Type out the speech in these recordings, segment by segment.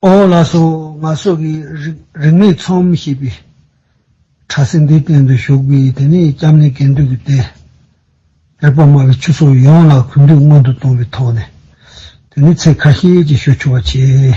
ཨོ་ལ་སོ་ང་སོ་གི་རིག་མེད་ཚོམ་ཞེས་པའི་གྲྭ་སེང་གེའི་སྟེང་དུ་བཞུགས་པའི་དེ་ནས་སྐྱབས་གནས་དགེ་འདུན་གྱི་རྟེན་རེག་པར་སྨྲ་བའི་ཆོས་ཚོགས་ཡོངས་ལ་གུས་འདུད་སྔོན་དུ་གཏོང་བའི་ཐོག་ནས་དེ་ནས་ཚེ་ཁ་ཤས་ཀྱི་ཞོ་འཆོལ་བ་བྱས།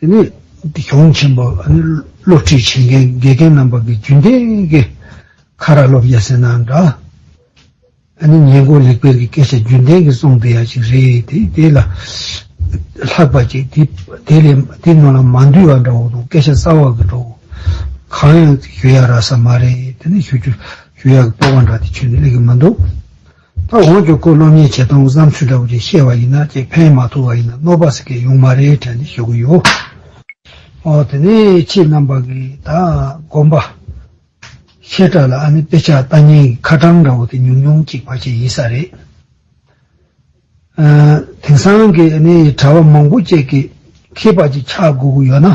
དེ་ནས་སྡེ་སྐྱོང་ཆེན་པོ་སློབ་ཁྲིད་བྱེད་མཁན་དགེ་རྒན་རྣམ་པ་གི་རྒྱུན་ལྡན་གྱི་ཁ་ར་སློབ་སྦྱར་ཟེར་ན་འདྲ། ཨ་ནི་ཉེན་ཀོར་ལེགས་སྤེལ་གྱི་སྐད་ཆ་རྒྱུན་ལྡན་གྱི་གསུང་བདེ་ཡག་ཅིག་རེད་དེ་དེ་ལ་ལྷག་པ་ཅིག་དེ་དེ་ལས་དེ་ནང་ལ་མ་འདུས་བ་འདྲ་བོ་དང་སྐད་ཆ་གསར་བ་གི་འདྲ་བོ་གང་ཡང་ཞུ་ཡག་རག་ས་མ་རེད་དེ་ནས་ཞུ་རྒྱུ་ཞུ་ཡག་གི་སྤོབས་པ་འདྲ་དེ་ཆོས་ནི་ལེགས་ཀྱི་མི་འདུག། ད་འོང་ཀྱོ་ཀོ་སློབ་གཉེར་བྱེད་སྟངས་བསམ་ཚུལ་འདྲ་བོ་ཅིག་བཤད་བ་ཡིན་ན་ཅིག་ཕན་མ་ཐོག་བ་ཡིན་ན་གནོད་པ་ཟེར་གི་ཡོང་མ་རེད་དྲན་ནས་ཞུ་གི་ཡོད། འོ་དེ་ནས་ཁྱེད་རྣམ་པ་གིས་ད་དགོངས་པ། ཤེལ་བྲག་ལ་ཨ་ནི་དཔེ་ཆ་ལྟ་ཉན་གྱི་ཁ་གྲངས་འདྲ་བོ་དེ་ཉུང་ཉུང་ཅིག་བར་ཆད་ཡིན་ས་རེད། དེང་སང་གི་ཨ་ནི་གྲྭ་བ་མང་པོ་བཅས་ཀྱིས་མཁས་པ་ཅིག་ཆགས་དགོས་ཀྱི་ཡོད་ན།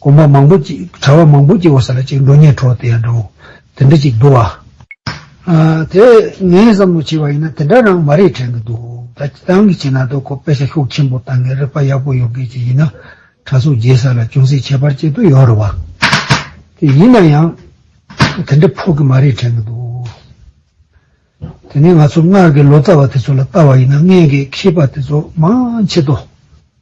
གོམ་པ་མང་པོ་ཅིག་གྲྭ་བ་མང་པོ་སྐྱེ་བ་ས་ལ་ཅིག་འགྲོ་ཉལ་འཕྲོ་དེ་ཡང་འདྲ་བོ། དེ་འདྲ་ཅིག་འདུག་བ། དེ་ངས་བསམ་བློ་བྱས་པ་ཡིན་ན་དེ་འདྲ་རང་མ་རེད་དྲན་གི་འདུག་ད་ཁྱེད་རང་གིས་བྱས་ན་དོ་ཁོ་དཔེ་ཆ་ཤུགས་ཆེན་པོ་བཏང་གི་རིག་པ་ཡག་པོ་ཡོད་མཁན་ཅིག་ཡིན་ན་གྲྭ་ཚོ་རྒྱའི་ས་ལ་ཅུང་ཟད་ཁྱད་པར་ཅིག་ཏུ་ཡོད་རེད་བ། དེ་ཡིན་ན་ཡང་དེ་འདྲ་ཕོག་གི་མ་རེད་དྲན་གི་འདུག་དེ་ནས་ང་ཚོ་སྔར་གྱི་ལོ་ཙཱ་བ་དེ་ཚོ་ལ་བལྟ་བ་ཡིན་ན་ངས་ཀྱི་མཁས་པ་དེ་ཚོ་མང་ཆེ་དོ།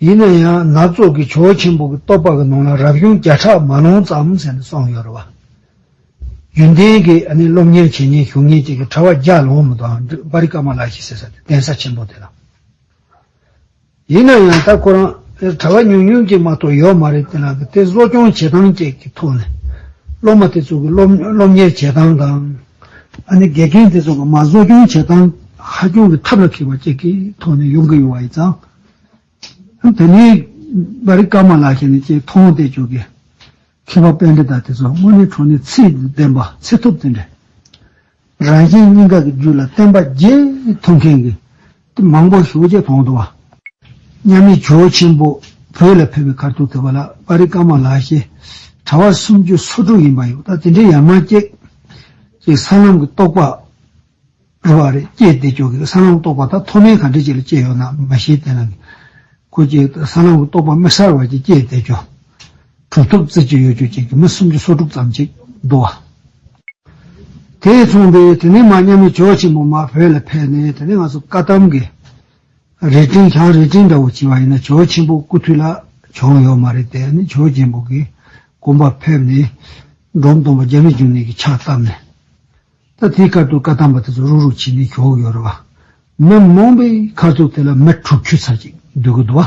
ཡིན་ན་ཡང་ནག་བཙོག་གི་བྱོལ་ཆེན་པོ་གི་ལྟོ་ཕག་གི་ནང་ལ་རབ་བྱུང་བརྒྱ་ཕྲག་མ་ལོངས་ཙམ་ཟེར་ནས་སོང་ཡོད་རེད་བ། རྒྱུན་ལྡན་གི་སློབ་གཉེར་བྱེད་ཉེན་ཞུགས་ཉེན་བཅས་ཀྱི་གྲྭ་བ་བརྒྱ་ལོངས་མི་དང་པ་རི་ཀ་མ་ལ་ཞིག་ཟེར་ས་དེ་གདན་ས་ཆེན་པོ་དེ་ལ། ཡིན་ན་ཡང་ད་ཁོ་རང་དེར་གྲྭ་བ་ཉུང་ཉུང་ཅིག་མ་གཏོགས་ཡོད་མ་རེད་དེ་ལ་དེ་གསོ་སྐྱོང་བྱེད་སྟངས་བཅས་ཀྱི་ཐོག་ནས་སློབ་མ་དེ་ཚོ་གི་སློབ་གཉེར་བྱེད་སྟངས་དང། ཨ་ནི་དགེ་རྒན་དེ་ཚོ་ལ་མ་བཟོ་སྐྱོང་བྱེད་སྟངས་ཧ་སྐྱོང་གི་ཐབས་ལ་འཁེལ་བ་བཅས་ཀྱི་ཐོག་ནས་ཡོང་གི་ཡོད་བ་ཡིན་ཙང། དེ་ནས་བ་རི་ཀ་མ་ལ་ཤེ་ནི་བཅས་མཐོང་བལྟས་བཅོས་ཀྱི་མཁས་པ་དཔེ་འདྲི་དག་དེ་ཚོ་དངོས་གནས་གྲོང་ནས་ཚིག་བདེན་པ་ཚིག་ཐུབ་དེ་འདྲས་རང་གཞན་གཉིས་ཀ་གི་རྒྱུད་ལ་བསྟན་པ་བརྒྱད་མཐོང་མཁན་གྱི་མང་པོ་ཞུགས་རྗེས་བོང་དུ་བ། མཉམ་མེད་ཇོ་ཆེན་པོ་བོད་ལ་ཕེབས་པའི་ཁར་ཐུགས་ཐུབ་པ་ལགས་དཔའ་རིས་དཀར་མོ་ལགས་ཞེས་གྲྭ་བ་སུམ་ཅུ་སོ་དྲུག་ཡིན་པ་ཡོད་ད་དེ་འདྲའི་ཡར་མར་སྐྱེས། ཅིག་ས་ལམ་གྱི་རྟོགས་པ་རེ་བ་རེ་སྐྱེས་དེ་ཅོག་གིས་ས་ལམ་རྟོགས་པ་ད་མཐོ་དམན་གང་འདྲའི་ཆེད་ལ་སྐྱེས་ཡོད་ནམ་མ་ཤེས་དེ་ན་གི། ཁོ་ཅིག་ས་ལམ་གྱི་རྟོགས་པ་དམིགས་བསལ་བར་གྱིས་སྐྱེས་དེ་ཅོག། གྲུབ་ཐོབ་རྩེ་གཅིག་གཡོ་སྒྱུ་ཅན་གྱི་མི་སུམ་ཅུ་སོ་དྲུག་ཙམ་ཅིག་འདུ་བ། དེས་མཚོན་པའི་དེ་ནི་མ་སྙམ་པའི་ཇོ་ཆེན་པོ་མ་བོས་ལ་ཕེབས་ནས་དེ་ནི་ང་ཚོ་བཀའ་གདམས་ཀྱི་རས་བྲིང་བྱང་རས་བྲིང་འདྲ་བོ་བྱིན་བ་ཡིན་ན་ཇོ་ཆེན་པོ་སྐུ་དུས་ལ་བྱུང་ཡོད་མ་རེད་དེ་ནི་ཇོ་ཆེན་པོ་གིས་དགོན་པར་ཕེབས་ནས་འབྲོམ་སྟོང་པ་རྒྱ་མི་འཇུ་ནད་ཀྱི་ཕྱག་བཏབ་ནས་ད་དེའི་སྐབས་དུ་བཀའ་གདམས་པ་དེ་ཚོ་རུག་རུག་བྱིན་ནས་བཞུགས་ཡོད་རེད་བ། མི་རྨོངས་པའི་ཁ་ཚུགས་དེ་ལ་མི་དྲུག་ཁྱུ་ཚར་ཅིག་འདུས་གི་འདུ་བ།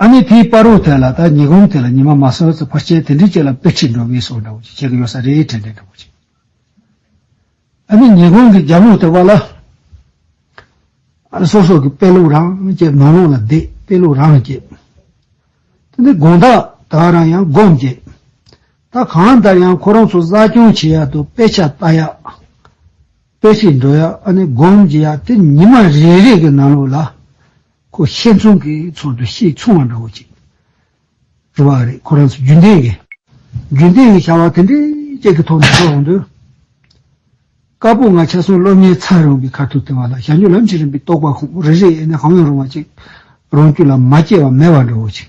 ཨ་ནི་དེའི་པར་རོ་དེ་ལ་ད་ཉི་གོམ་དེ་ལ་ཉི་མ་མ་སོད་ཚོད་ཕར་ཆད་དེ་འདྲི་བྱེད་ལ་པེ་ཁྲིད་འགྲོ་གི་སོ་འདྲ་བོ་ཅིག་བྱེད་གི་ཡོད་ས་རེད་དྲན་དྲན་འདྲ་བོ་ཅིག། ཨ་ནི་ཉི་གོམ་གི་རྒྱབ་ལུགས་དེ་བ་ལ། ཨ་ནི་སོ་སོ་གི་པེ་ལུགས་རང་བསྐྱེད་ནོར་ལུགས་ལ་བསྡད་པེ་ལུགས་རང་བསྐྱེད། དེ་འདྲའི་དགོངས་དག་དག་རང་ཡང་སྒོམ་བསྐྱེད་ད་གང་ལྟར་ཡང་ཁོ་རང་ཚོ་གསར་སྐྱོང་བྱེད་ཡག་དུ་པེ་ཆ་ལྟ་ཡག་པེ་ཁྲིད་འགྲོ་ཡག་ཨ་ནི་སྒོམ་བགྱིད་ཡག་དེ་ཉི་མ་རེ་རེ་གི་ནང་ལུགས་ལ། ཁོ་ཤེས་མཚུངས་ཀྱི་ཚོར་འདུ་ཤེས་མཚུངས་བ་འདྲ་བོ་ཅིག་འདུག་བ་རེད་ཁོ་རང་ཚོ་རྒྱུན་ལྡན་གྱི། རྒྱུན་ལྡན་གྱི་བྱ་བ་དེ་འདྲའི་ཅན་གྱི་ཐོག་ནས་འགྲོ་འོང་དུས། དཀར་པོ་ང་ཆ་སྲུང་སློབ་གཉེར་ཚར་རུང་གི་ཁ་ཐུག་དེ་བ་ལ་བཞག་མྱུར་ལམ་ཞིག་རིམ་པས་རྟོགས་པ་ཁོང་རེ་རེས་ཡེ་ནས་གང་ཡང་རུང་བ་ཅིག་རང་རྒྱུད་ལ་མ་སྐྱེས་པ་མེད་བ་འདྲ་བོ་ཅིག།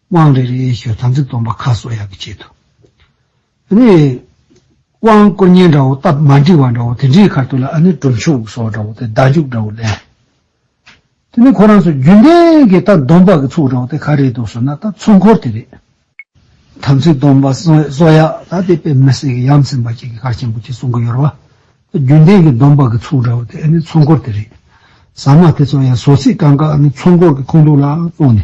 དབང་རེ་རེའི་ཞོ་དམ་ཚིག་སྟོང་པ་ཁ་གསོ་ཡག་གི་བྱེད་དོ། ཨ་ནི། དབང་བསྐུར་སྙན་འདྲ་བོ་སྟབས་མ་འགྲིག་བ་འདྲ་བོ་དེ་འདྲའི་ཁར་དུ་ལ་ཨ་ནི་གྲུབ་མཆོག་སོགས་འདྲ་བོ་དེ་བདག་འཇུག་འདྲ་བོ་ལས། དེ་ནི་ཁོ་རང་ཚོ་རྒྱུན་ལྡན་གྱི་ལྟ་སྡོམ་པ་གི་ཚུགས་འདྲ་བོ་དེ་ག་རེད་འདུག་ཟེར་ན་ད་ཚུགས་འཁོར་དེ་རེད། དམ་ཚིག་སྟོང་པ་གསོ་ཡག་ད་དེ་དཔེ་མི་སྲིད་གི་ཡམ་སེམས་པ་ཅིག་གི་ཁར་ཆེན་པོ་ཅིག་གསུང་གི་ཡོད་རེད་བ། ད་རྒྱུན་ལྡན་གྱི་སྡོམ་པ་གི་ཚུགས་འདྲ་བོ་དེ་ཨ་ནི་ཚུགས་འཁོར་དེ་རེད། ཟ་མ་དེ་ཚོ་ཡང་ཟོ་ཚིག་གང་ག་ཨ་ནི་ཚུགས་འཁོར་གི་ཁུངས་གཏུགས་ལ་བཙོང་ནས།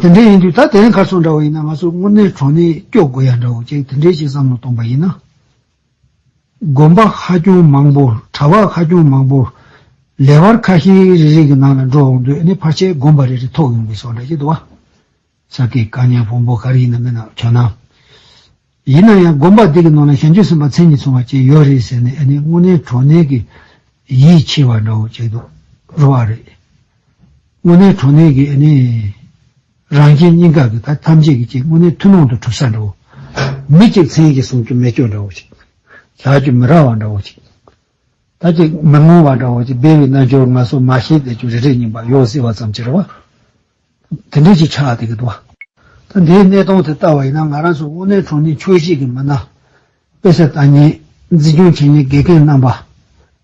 དེ་འདྲས་ཡིན་དུས་ད་དེ་རིང་གར་སོང་འདྲ་བོ་ཡིན་ན་ང་ཚོ་དངོས་གནས་གྲོང་ནས་སྐྱོ་དགོས་ཡ་འདྲ་བོ་ཅིག་དེ་འདྲས་ཅིག་བསམ་བློ་གཏོང་པ་ཡིན་ན། དགོན་པ་ཧ་ཅང་མང་པོ་གྲྭ་བ་ཧ་ཅང་མང་པོ་ལས་བར་ཁ་ཤས་རེ་རེ་གི་ནང་ལ་འགྲོ་འོང་དུས་ནི་ཕར་ཆེར་དགོན་པ་རེ་རེ་ཐོག་ཡོང་གི་སོགས་འདྲ་ཅིག་འདུག་བ། ས་དགེ་བཀའ་ཉན་བོང་བུ་ག་རེ་ཡིན་ན་མིན་ན་ཁྱོད་རྣམས། ཡིན་ན་ཡང་དགོན་པ་དེ་གི་ནང་ལ་ཞལ་མཆོད་ཟིན་པ་མཚན་ཉིད་ཚོང་བ་བཅས་ཡོད་རེད་ཟེར་ནས་ཨ་ནི་དངོས་གནས་གྲོ་ནས་གི་ཡིད་ཆེས་བ་འདྲ་བོ་བྱེད་དུ་རུ་བ་རེད། དངོས་གནས་གྲོ་ནས་གི་ཨ་ནི་རང་རྐྱེན་སྙིང་ག་གི་ད་ཐམས་ཅད་ཀྱི་ཅིག་དངོས་གནས་ཐུན་མོང་དུ་གྲུབ་ས་འདྲ་བོ། མི་གཅིག་མཚན་གྱི་གསུང་རྒྱུ་མེད་སྐྱོ་འདྲ་བོ་ཅིག། ལག་རྒྱུ་མི་རག་བ་འདྲ་བོ་ཅིག། ད་ཅིག་མི་ངོ་བ་འདྲ་བོ་ཅིག་སྦས་བའི་རྣལ་འབྱོར་ང་སོ་མ་ཤེས་བསྡད་རྒྱུ་རེ་རེ་རྙིང་པ་ཡོག་ཟེར་བ་ཙམ་གྱི་རེ་བ། དེ་འབྲེལ་གྱི་ཆ་དེ་གི་འདུག་བ། ད་འདིའི་གནས་སྟངས་དེ་ལྟ་བ་ཡིན་ན་ང་རང་སོགས་དབུ་སྣོད་གྲོང་སྡེའི་ཆོས་གཞིས་ཀྱི་མི་སྣ། དཔེ་ཟད་ལྟ་ཉན། འཛིན་སྐྱོང་བྱེད་ཉན་དགེ་རྒན་རྣམ་པ།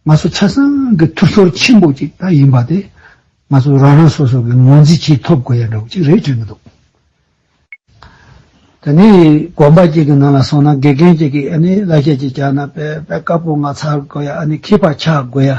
ང་ཚོ་ཆ་ཚང་གི་ཐུགས་ཤོར་ཆེན་པོ་ཅིག་ད་ཡིན་པ་དེ། ང་ཚོ་རང་རང་སོ་སོ་གི་ངོས་འཛིན་གྱིས་ཐོབ་དགོས་ཡག་འདྲ་བོ་ཅིག་རེད་དྲན་གི་འདུག་བ། ད་ནི་དགོན་པ་གཅིག་གི་ནང་ལ་སོང་ན་དགེ་རྒན་གཅིག་གིས་ཨ་ནི་བླ་ཞལ་གཅིག་བཅག་ན་དཔེ་དཔེ་དཀར་པོ་ང་ཚར་དགོས་ཡ་ཨ་ནི་ཁྱི་ཕག་ཆགས་དགོས་ཡ།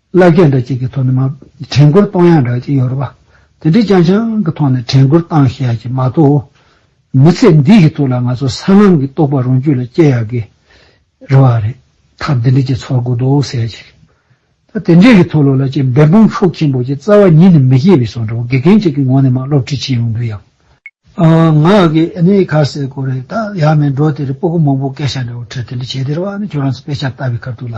བླ་རྒན་འདྲ་གཅིག་གི་ཐོག་ནས་མ། དྲན་བསྐུར་གཏོང་ཡག་འདྲ་གཅིག་ཡོད་རེད་པ། དེ་འདྲའི་ཅང་ཅང་གི་ཐོག་ནས་དྲན་བསྐུར་གཏང་ཤེས་ཡག་གཅིག་མ་ཏོག། མི་ཚེ་འདི་ཡི་ཐུགས་ལ་ང་ཚོ་སྲང་ལམ་གི་རྟོག་པ་རང་རྒྱུད་ལ་སྐྱེ་ཡག་གི་རེད་བ། རེད་ཐབས་འདི་འདྲི་གཅིག་ཚོར་དགོས་འདུག་ཟེར་ཡག་གཅིག་རེད། དེ་འདྲའི་གི་ཐུགས་བློ་ལ་གཅིག་འབད་འབུངས་ཤུགས་ཆེན་པོ་གཅིག་རྩ་བ་ཉིད་ནས་མི་སྐྱེ་བའི་སོགས་འདྲ་བོ་དགེ་རྒན་གཅིག་གི་ངོ་ནས་མ་སློབ་ཁྲིད་བྱེད་ཡོང་དུས་ཡག། ང་གི་ཨནི་ཁ་ཟས་སྐོར་རེད་ད་ཡག་མེད་འགྲོ་དེ་རེད་སྤོ་སྒོ་མང་པོ་སྐད་ཆ་འདྲ་བོ་ཁྲིད་དེ་འདྲི་བྱེད་དེ་རེད་བ་ནི་ཁྱོད་རང་ཚོ་དཔེ་ཆ་ལྟ་བའི་ཁར་ཐུགས་ལ་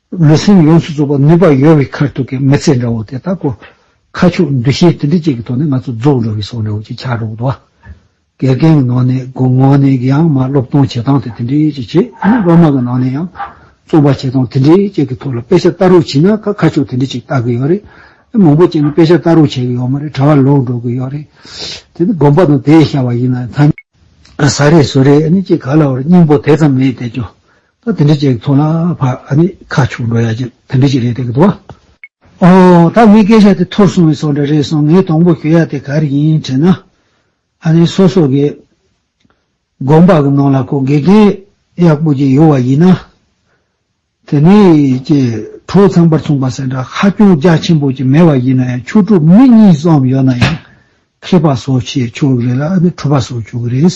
ལུས་སེམས་ཡོངས་སུ་རྫོགས་པར་ནུས་པ་ཡོད་བའི་མཁར་ཐུག་གི་མི་ཚེ་འདྲ་བོ་དེ་དག་གོ། ཁ་ཕྱོགས་འདུ་ཤེས་དེ་འདྲ་ཅིག་གི་ཐོག་ནས་ང་ཚོ་རྫོགས་འགྲོ་བའི་སྲོག་འདྲ་བོ་ཅིག་ཆགས་འགྲོ་བ། དགེ་རྒན་གྱི་ནང་ནས་དགོང་མོ་ནས་གཡང་མ་སློབ་སྟོན་བྱེད་སྟངས་དེ་དེ་འདྲའི་ཅིག་བྱེད། ཡང་སློབ་མ་གི་ནང་ནས་ཡང་རྩོམ་པ་བྱེད་སྟངས་དེ་འདྲའི་ཅིག་གི་ཐོག་ལ་དཔེ་ཆ་ལྟ་རོགས་བྱས་ན་ཁ་ཕྱོགས་དེ་འདྲ་ཅིག་ལྟ་གི་ཡོད་རེད། དེ་མང་པོ་བྱས་ན་དཔེ་ཆ་ལྟ་རོགས་བྱེད་ཀྱི་ཡོད་མ་རེད་གྲྭ་བ་ལོག་འགྲོ་གི་ཡོད་རེད། དེ་ནི་དགོངས་པ་དང་དེའི་བྱ་བ་ཡིན་ན་ཐང། ཟ་རེས་ཟོ་རེས་ཅིག་ག་ལ་བར་སྙིང་པོ་དེ་ཙམ་མེད་དེ་ཀྱང་ད་དེ་འདྲས་ཅིག་མཐོང་ན་ཕ་ཨ་ནི་ཁ་ཕྱོགས་འགྲོ་ཡ་ཅིག་དེ་འདྲས་ཅིག་རེད་དེ་གི་འདུག་བ། ཨོ། ད་ངའི་སྐད་ཆ་དེ་ཐོར་སོང་བའི་སོགས་འདྲ་རེད་སོང་ངས་དང་པོ་ཞུ་ཡ་དེ་ག་རེ་ཡིན་དྲིས་ན། ཨ་ནི་སོ་སོ་གི་དགོན་པ་གི་ནང་ལ་ཁོ་དགེ་རྒན་ཡག་པོ་ཅིག་ཡོད་བ་ཡིན་ན། དེ་ནས་ཀྱི་གྲོགས་ཚང་པར་མཚུངས་པ་སེ་འདྲ་ཧ་ཅུང་རྒྱ་ཆེན་པོ་ཅིག་མེད་བ་ཡིན་ན་ཡང་ཆོས་དྲུག་མི་གཉིས་ཙམ་ཡོད་ན་ཡང་མཁས་པ་སོགས་ཆེ་ཆོག་གི་རེད་ལ་ཨ་ནི་གྲུབ་པ་སོགས་ཆོག་གི་རེད།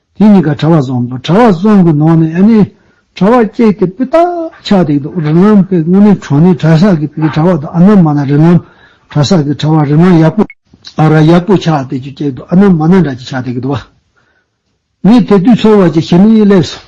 དེ་གཉིས་ཀ་གྲྭ་བ་བཟང་དང་གྲྭ་བ་བཟང་གི་ནང་ནས་ཨ་ནེ་གྲྭ་བ་སྐྱེས་ཏེ་སྤུས་དག་ཆགས་འདུག་རི་ལམ་པས་དངོས་གནས་གྲོང་སྣེའི་གྲྭ་ཤག་གི་བུའི་གྲྭ་བ་དང་ཨ་ན་མ་ན་རི་ལམ་གྲྭ་ཤག་གི་གྲྭ་བ་རི་མ་ཡག་པོ་ཨ་ར་ཡག་པོ་ཆགས་འདུག་ཅེས་སྐད་དུ་ཨ་ན་མ་ན་འདྲ་ཅིག་ཆགས་འདུག་ངས་དེ་དུས་ཚོར་བ་ཅིག་ཞིམ་མིག་ལེབ་སོང།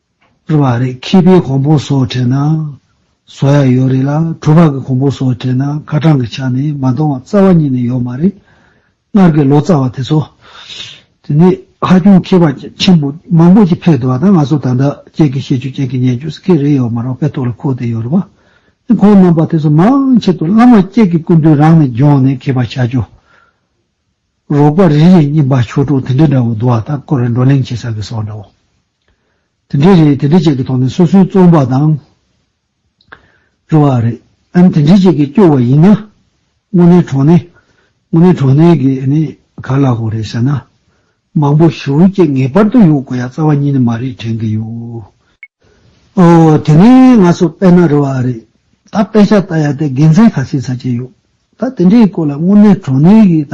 བསྐྱུར་བ་རེད་ཁེ་པའི་གོང་བུ་སོགས་བྲིས་ན་བཟོ་ཡག་ཡོད་རེད་ལ་གྲུ་པག་གི་གོང་བུ་སོགས་བྲིས་ན་ཁ་གྲངས་ཀྱི་ཆ་ནས་མ་མཐོང་བ་རྩ་བ་ཉིད་ནས་ཡོད་མ་རེད། སྔར་གྱི་ལོ་ཙཱ་བ་དེ་ཚོ། དེ་ནས་ཧ་ཅུང་མཁས་པ་ཆེན་པོ་མང་པོ་ཞིག་ཕེབས་འདུག་བ་དང་ང་ཚོ་ད་ལྟ་ཁྱེད་ཀྱི་ཤེས་ཚོད་ཅན་གྱི་ཉན་རྒྱུ་སྐད་རེ་ཡོད་མ་རང་པའི་ཐོག་ལ་འཁོར་དེ་ཡོད་རེད་བ། དེ་ཁོང་རྣམ་པ་དེ་ཚོ་མང་ཆེད་དུ་བླ་མ་ཁྱེད་ཀྱི་སྐུ་མདུན་རང་ནས་རྒྱོང་ནས་མཁས་པ་བྱ་རྒྱུ། རོགས་པ་རེ་རེ་རྙིང་པ་ཆོས་དྲུག་དེ་འདྲ་འདྲ་བོ་འདུག་བ་དང་སྐོར་རེ་འགྲོ་གླེང་བྱེད་ས་གི་སོགས་འདྲ་བོ། དེ་འདྲའི་རེད་དེ་འདྲའི་བཅས་ཀྱི་ཐོག་ནས་སོ་སོའི་རྩོམ་པ་དང། རེ་བ་རེད་ཨང་དེ་འདྲའི་བཅས་ཀྱི་སྐྱོ་བ་ཡིན་ན། དངོས་གནས་གྲོགས་ནས་དངོས་གནས་གྲོགས་ནས་ཀྱི་ནི་ག་ལ་ཧོ་རེད་ཟེར་ན། མང་པོ་ཞུ་བཅས་ངེས་པར་དུ་ཡོང་དགོས་ཡ་རྩ་བ་ཉིད་ནས་མ་རེད་དྲན་གྱི་ཡོད། ཨོ་དེ་ནས་ང་ཚོ་དཔེ་ན་རེ་བ་རེད་ད་དཔེ་ཆ་ལྟ་ཡ་དེ་དགེ་མཚན་ག་ཚད་ཚ་གྱི་ཡོད་ད་དེ་འདྲའི་སྐོར་ལ་དངོས་གནས་གྲོགས་ནས་ཀྱི་ད་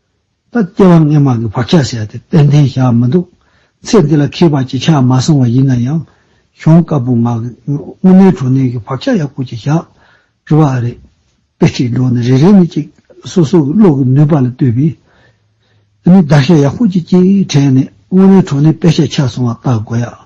ད་ལྟེ་བ་སྔས་མ་གི་བག་ཆགས་ཟེར་ཏེ་དཔལ་ལྡན་བཞག་མི་འདུག་ཚེ་འདི་ལ་ཁེས་པ་ཅི་ཆགས་མ་སོང་བ་ཡིན་ན་ཡང། གཞོན་སྐབས་བུ་ངག་གི་སྔོན་མའི་དྲོ་གནས་ཀྱི་བག་ཆགས་ཡག་པོ་ཅིག་བཞག་རི་བ་ཨ་རེད། དཔེ་ཁྲིད་འགྲོ་ནི་རེ་རེ་ནི་ཅིག་སོ་སོ་གི་བློ་གི་ནུས་པ་ལ་ལྟོས་པས། འདི་ནི་བརྡར་ཤ་ཡག་པོ་ཅིག་ཅེས་དྲན་ནས་སྔོན་མའི་དྲོ་གནས་དཔེ་ཤ་ཆགས་སོང་བ་བལྟ་དགོས་ཡ།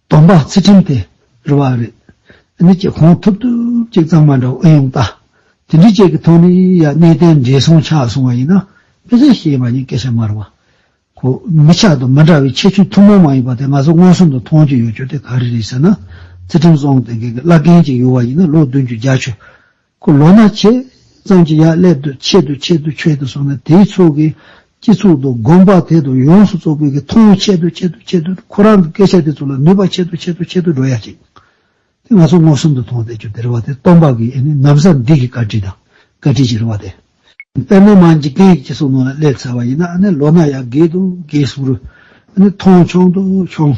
སྡོམ་པ་ཚུལ་ཁྲིམས་དེ་རུ་བ་རེད། འདི་ནི་ཀྱི་གོང་ཐུབ་ཐུབ་ཅིག་གཙང་མ་འདྲ་བོ་ཨེ་ཡོང་ད། དེ་འདྲི་བཅས་ཀྱི་ཐོག་ནས་ཡ་གནས་དེ་འདྲས་སོང་ཆགས་སོང་བ་ཡིན་ན་ཕལ་ཆེར་ཤེས་པ་ཡིན་སྐད་ཆ་མ་རུ་བ། ཁོ་མི་ཆགས་དང་མི་འདྲ་བའི་ཁྱད་ཆོས་ཐུང་མང་མང་ཡོད་པ་དེ་ང་ཚོ་མངོན་སུམ་དུ་མཐོང་རྒྱུ་ཡོད་རྒྱུ་དེ་ག་རེ་རེད་ཟེར་ན། ཚུལ་ཁྲིམས་བཟང་དེ་འགས་ཀྱི་བླ་རྒན་ཅིག་ཡོད་བ་ཡིན་ན་ལོ་བདུན་ཅུ་བརྒྱ་ཆུ་ཁོ་ལོ་ན་ཆེ་ཙམ་གྱི་ཡར་སླེབས་དུས་ཆེད་དུ་ཆེད་དུ་ཆོས་དུ་སོང་ནས་དེའི་ཚོགས་ཀྱིས་སྤྱི་ཚོགས་དང་དགོན་པ་དེ་དང་ཡོངས་སུ་བཙོག་པའི་གི་མཐོང་བས་ཆེད་དུ་ཆེད་དུ་ཆེད་དུ་ཁོ་རང་གི་སྐད་ཆ་དེ་ཚོ་ལ་ནུས་པ་ཆེད་དུ་ཆེད་དུ་ཆེད་དུ་འགྲོ་ཡ་ཅིག་དེ་ང་ཚོ་མངོན་སུམ་དུ་མཐོང་སྟེ་ཆུ་དེར་བ་དེ་སྟོང་པ་གི་ཨེ་ནི་ནམ་སར་འདི་གི་བཀའ་དྲིན་དང་བཀའ་དྲིན་ཞེས་རེ་བ་དེ། དཔེར་ན་མ་འཇིག་རྟེན་གྱི་སྤྱི་ཚོགས་ནང་ལ་སླེབས་ཚར་བ་ཡིན་ན་ཨ་ནི་ལོ་ན་ཡར་རྒས་དང་རྒས་སོང་རུང་ཨ་ནི་མཐོང་ཆུང་དང་ཆུང།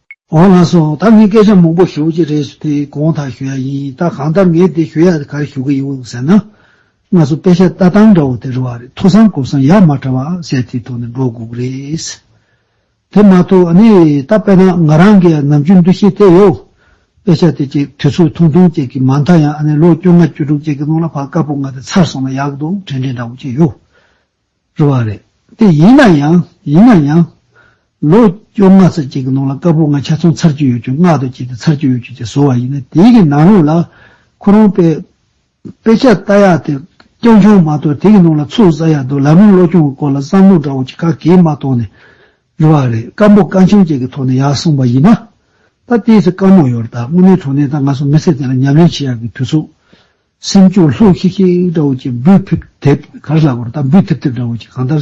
འོ་ལགས་སོ་ད་ངས་སྐད་ཆ་མང་པོ་ཞུ་རྒྱུ་རེད་ཟེར་དེ་གང་ཐག་ཞུ་ཡ་ཡིན་ད་གང་ལྟར་ངས་དེ་ཞུ་ཡ་དེ་གར་ཞུ་གི་ཡོད་ཟེར་ན། ང་ཚོ་དཔེ་ཆ་ལྟ་སྟངས་འདྲ་བོ་དེ་རེད་བ་རེད་མཐོ་སར་གོ་སར་ཡག་མ་འདྲ་བ་ཟེར་དེའི་ཐོག་ནས་འགྲོ་དགོས་ཀྱི་རེད། དེ་མ་ཐུག་ཨ་ནི་ད་དཔེ་ན་ང་རང་གི་ནམ་རྒྱུན་འདུ་ཤེས་དེ་ཡོད། དཔེ་ཆ་དེ་ཅིག་དུས་ཚོད་ཐུང་ཐུང་ཅིག་གི་མ་མཐའ་ཡང་ཨ་ནི་ལོ་བཅོ་ལྔ་བཅུ་དྲུག་ཅིག་གི་ནང་ལ་བག་དཀར་པོ་ང་དེ་ཚར་སོང་ན་ཡག་འདུག་དྲན་དྲན་འདྲ་བོ་ཅིག་ཡོད། རུ་བ་རེད། དེ་ཡིན་ན་ཡང། ཡིན་ན་ཡང། ལོ་བཅོ་ལྔ་ཚོད་ཅིག་གི་ནང་ལ་དཀར་པོ་ང་ཆ་ཚང་ཚར་གཅོད་ཡོད་ཁྱོད་ནག་དོ་ཅིག་དང་ཚར་གཅོད་ཡོད་ཁྱོད་ཅིག་བཟོ་བ་ཡིན་ན་དེའི་གི་ནང་རུང་ལ་ཁོ་རང་དཔེ། དཔེ་ཆ་ལྟ་ཡག་དེ་རྐྱང་རྐྱང་མ་གཏོགས་དེ་གི་ནང་ལ་ཚུགས་ས་ཡག་འདུག་ལམ་རིམ་བློ་སྐྱོང་གི་སྐོར་ལ་བསམ་བློ་འདྲ་བོ་ཅིག་ག་གེ་མ་གཏོང་ནས་རུ་བ་རེད་སྐམ་པོ་སྐར་ཆུང་ཅིག་གི་ཐོག་ནས་ཡག་གསུངས་པ་ཡིན་ན། ད་ལྟའི་ཚེ་སྐར་མོ་ཡོར་ད་དངོས་གནས་དྲུང་ནས་ད་ང་ཚོ་མི་སེར་དེ་ལ་ཉམས་ལེན་བྱེད་ཡག་གི་དུས་ཚོད་སེམས་སྐྱོ་ལྷུག་ཤིག་ཤིག་འདྲ་བོ་ཅིག་འབུད་ཕིབ་དེབ་ག་རེ་ལགས་པར་ད་འབུད་ཐེབ་ཐེབ་འདྲ་བོ་ཅིག་གང་ལྟར།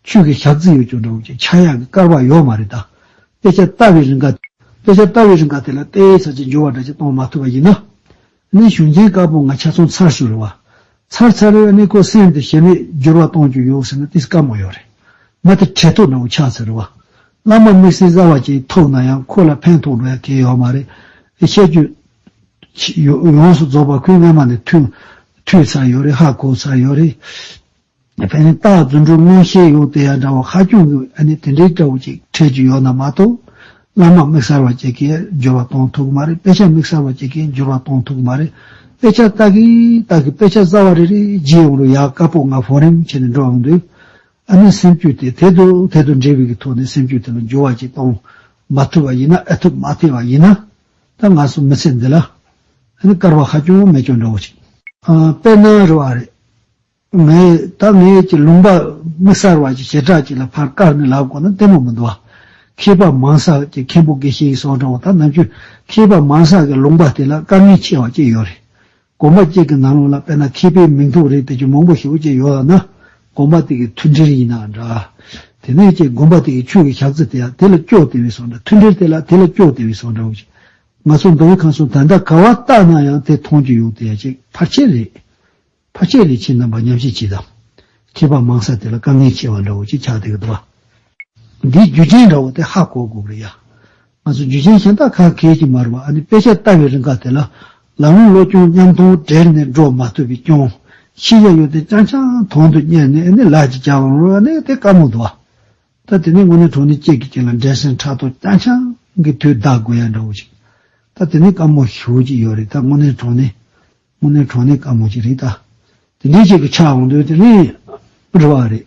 ཆོས་ཀྱི་ཞག་རྩི་ཡོད་ཀྱང་འདྲ་བོ་ཅིག་ཕྱག་གཡག་གི་སྐར་བག་ཡོག་མ་རེད་ད། དཔེ་ཆ་ལྟ་བའི་རིང་ག། དཔེ་ཆ་ལྟ་བའི་རིང་ག་དེ་ལ་ལྟའི་ཚར་གཅིག་འབྱོར་བ་འདྲ་ཅིག་གཏོང་མ་ཐུབ་པ་ཡིན་ན། གནས་གཞུང་ཆེན་དཀར་པོ་ང་ཆ་ཚང་ཚར་ཞུ་རུ་བ། ཚར་ཚར་རེར་གནས་ཁོ་སེམས་དེ་ཞེ་མེད་འགྱུར་བ་གཏོང་རྒྱུ་ཡོད་ཟེར་ན་དེ་སྐར་མ་ཡོད་རེད། མ་དེ་འཕྲལ་ཐོག་འདྲ་བོ་ཆགས་ཚར་རུ་བ། བླ་མ་དམིགས་བསལ་གསར་བ་ཅིག་ཐོབ་ན་ཡང་ཁོ་ལ་ཕན་ཐོགས་འགྲོ་ཡ་གལ་ཡོད་མ་རེད། ཆད་སྐྱོད། ཡོངས་སུ་རྫོགས་པ་ཁོས་སྔ་མ་ནས་མཐུས་ཚར་ཡོད་རེད་ཧ་གོ་ཚར་ཡོད་རེད། ཕན་རྟགས་རྫུན་སྒྲུབ་མངོན་ཤེས་ཡོད་དེ་ཡང་འདྲ་བོ་ཧ་གྱོང་གི་ཨ་ནི་དེ་འདྲའི་སྐྲ་བོ་ཅིག་འཕྲད་རྒྱུ་ཡོད་ན་མ་གཏོགས། བླ་མ་དམིགས་གསར་བ་ཅིག་གིས་སྦྱོར་བ་གཏོང་ཐུབ་གི་མ་རེད་དཔེ་ཆ་དམིགས་གསར་བ་ཅིག་གིས་སྦྱོར་བ་གཏོང་ཐུབ་གི་མ་རེད། དཔེ་ཆ་ལྟ་གིན་ལྟ་གིན་དཔེ་ཆ་གསར་བ་རེ་རེ་བརྗེད་ཡོང་རུང་ཡག་དཀར་པོ་ང་ཧྥོ་རེམ་བྱས་ནས་འགྲོ་འོང་དུས། ཨ་ནི་སེམས་རྒྱུད་དེ་ཐད་དུ་ཐད་དུ་འབྲེལ་བའི་ཐོག་ནས་སེམས་རྒྱུད་དེ་ལ་འགྱུར་བ་ཅིག་གཏོང་མ་ཐུབ་པ་ཡིན་ན་ཨེ་ཐུབ་མ་བལྟས་པ་ཡིན་ན། ད་ང་སོང་མི་ཚེ་འདི་ལ་ཨ་ནི་དཀར་བ་ཧ་ཅང་མེད་ཀྱང་འདྲ་བོ་ཅིག། དཔེར་ན་རེ་བ་རེད། ངས་ད་ངེད་ཀྱི་ལུང་པ་མི་གསར་བ་ཅིག་བྱེ་བྲག་ཅིག་ལ་ཕར་བཀར་ནས་ལབ་དགོས་ན་ལྟད་མོ་མི་འདུག་ཨ། མཁས་པ་མང་ས་ཀྱི་མཁན་པོ་དགེ་བཤེས་ཡིན་སོང་དྲང་བ་ད་ནམ་རྒྱུན་མཁས་པ་མང་ས་ཀྱི་ལུང་པ་དེ་ལ་དཀའ་ངལ་ཆེ་བ་ཅིག་ཡོད་རེད། དགོན་པ་གཅིག་གི་ནང་ལོགས་ལ་དཔེར་ན་མཁས་པའི་མིང་ཐོག་རེ་དེ་བཞིན་མང་པོ་ཞིག་བཅས་ཡོད་ལགས་ན། དགོན་པ་དེ་གའི་མཐུན་སྒྲིལ་ཡིན་ནའང་འདྲ། དེ་ནས་ཀྱང་དགོན་པ་དེ་གའི་ཆོས་ཀྱི་ཞག་རྩི་དེ་ཡང་དེ་ལ་སྐྱོ་དེ་བས་སོང་འདྲ་མཐུན་སྒྲིལ་དེ་ལ་དེ་ལ་སྐྱོ་དེ་བས་སོང་འདྲ་འོ་ཅེ། ང་ཚོ་མདོ་དབུས་ཁམས་སུ་ད་ལྟ་ག་བ་བཏགས་ན་ཡང་དེ་མཐོང་རྒྱུ་ཡོང་དེ་ཡ་ཅིག་ཕར་ཆེར་རེད། ཕར་ཆེར་རེ་ཕྱིན་དང་བ་ཉམས་ཤིག་བྱས་དང། མཁས་པ་མང་ས་དེ་ལ་དཀའ་ངལ་ཆེ་བ་འདྲ་འོ་ཅེ་ཆགས་དེ་ག་དུ་བ། འདིའི་རྒྱུ་རྐྱེན་འདྲ་བོ་དེ་ཧ་གོ་དགོས་རེད་ཡ། ང་ཚོ་འཇུ་ཆེན་གཞན་དག་ཁ་མཁས་ཀྱིས་མར་བ་ཨ་ནི་དཔེ་ཆ་ལྟ་བའི་རིང་ཁག་དེ་ལ། ལམ་ལུགས་བློ་སྐྱོང་མཉམ་མཐོང་བྲལ་ནས་འགྲོ་མ་ཐུབ་པའི་སྐྱོང་གཞི་ཡ་ཡོ་དེ་རྐྱང་རྐྱང་དོང་དུ་གཉེར་ནས་ཨ་ནི་ལག་གྱིས་རྒྱག་བར་འོང་བ་ནི་དེ་དཀའ་མོ་འདུག་ཨ། ད་དེ་ནས་དངོས་གནས་གྲོང་ནི་སྐྱེས་ཀྱི་སྐྱེས་ལ་འབྲས་སེན་ཕྲག་དོག་རྐྱང་རྐྱང་གི་དུས་བདག་དགོས་ཡ་འདྲ་བོ་ཅིག་ད་དེ་ནི་དཀའ་མོ་ཞུ་ཅིག་ཡོད་རེད་ད་དངོས་གནས་གྲོང་ནི། དངོས་གནས་གྲོང་ནི་དཀའ་མོ་ཅིག་རེད་ད། དེ་འདྲའི་ཅིག་གི་ཆགས་འོང་དུས་དེ་ནི། རེ་བ་རེད།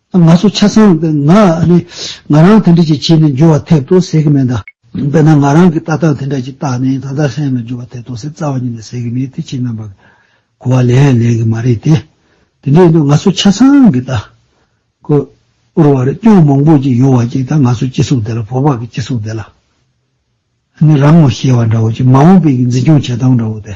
ང་ཚོ་ཆ་ཚང་ང་ང་རང་དེ་འདྲ་ཅིག་བྱས་ནས་འགྱུར་བ་ཐེབས་ཐུབ་ཟེར་གི་མེད་ད། དཔེར་ན་ང་རང་གིས་ཏག་ཏག་དེ་འདྲ་ཅིག་བཏགས་ནས་ད་ལྟ་སེམས་ལ་འགྱུར་བ་ཐེབས་ཐུབ་ཟེར་རྩ་བ་ཉིད་ནས་ཟེར་གི་མེད་དེ་ཕྱི་ནང་བར་གོ་བ་ལེན་ཡང་ལེན་གི་མ་རེད་དེ། དེ་འདྲ་ཡིན་དུས་ང་ཚོ་ཆ་ཚང་གིས་ད། ཁོ་བོར་བར་སྐྱོན་མང་པོ་ཅིག་ཡོང་བ་ཅིག་ད་ང་ཚོ་སྤྱི་ཚོགས་འདི་ལ་བོད་པ་གི་སྤྱི་ཚོགས་འདི་ལ། ནི་རང་ངོ་ཤེས་བ་འདྲ་བོ་ཅིག་མ་འོངས་པའི་གི་འཛིན་སྐྱོང་བྱེད་སྟངས་འདྲ་བོ་དེ།